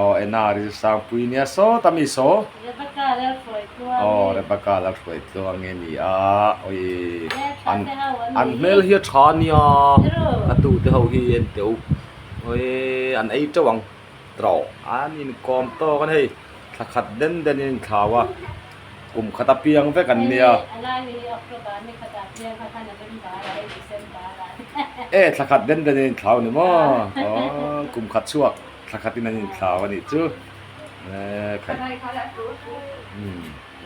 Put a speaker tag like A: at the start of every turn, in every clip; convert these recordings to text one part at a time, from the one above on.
A: aw ena ril sangpui nia sawta mi saw aw rebecca la hruai tluang nge ni a awii an hmel hi a tha nia a tu te ho hi en teh u awii an ei teuh ang trawh an inkawm tawk a ni hei thlakhat den den in an thlau a. Kum khat a piang vek an nia. E thla khat den den in an thlau ni maw? Aww kum khat chhuak thla khat in an in thlau a nih chu.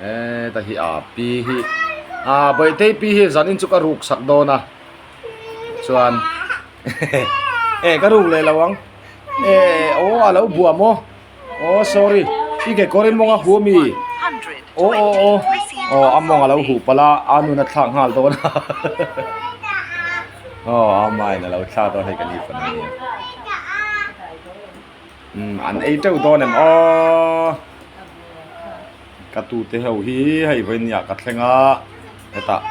A: Ee ta hi a pi hi a Bawihtei pi hi zan in chu ka ruk sak dawn a chuan e ka ruk leh lo ang e aww a lo buam maw? aw sorry i kekawr i mawng a hu a mi aw aw aw aw a mawng alo huh palh a a nuna thlak nghal dawn a aw a mine alo thlak dawn hei ka ni fan ania umm an ei teuh dawn em aww ka tute ho hi hei vawiin niah ka thleng a hetah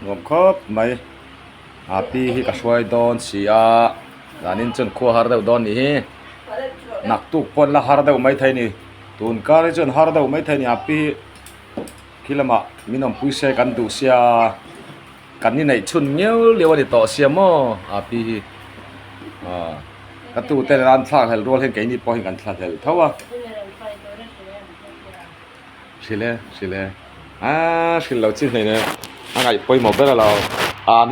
A: nuam khawp mai. a pi hi ka hruai dawn si a danin chuan khua har deuh dawn anih hi naktuk pawn la har deuh mai thei ani tun kar hi chuan har deuh mai thei ani a pi hi khi lamah min awm pui se kan duh sia kan inei chhun ngeu lio ani tawh sia maw a pi hi ah ka tute nen an thlak hlel rual hi keini pawh hian kan thla hlel tho a hrilh e hrilh e a hrilh lo chi hlein e a ngaih pawimawh ber alo a ni.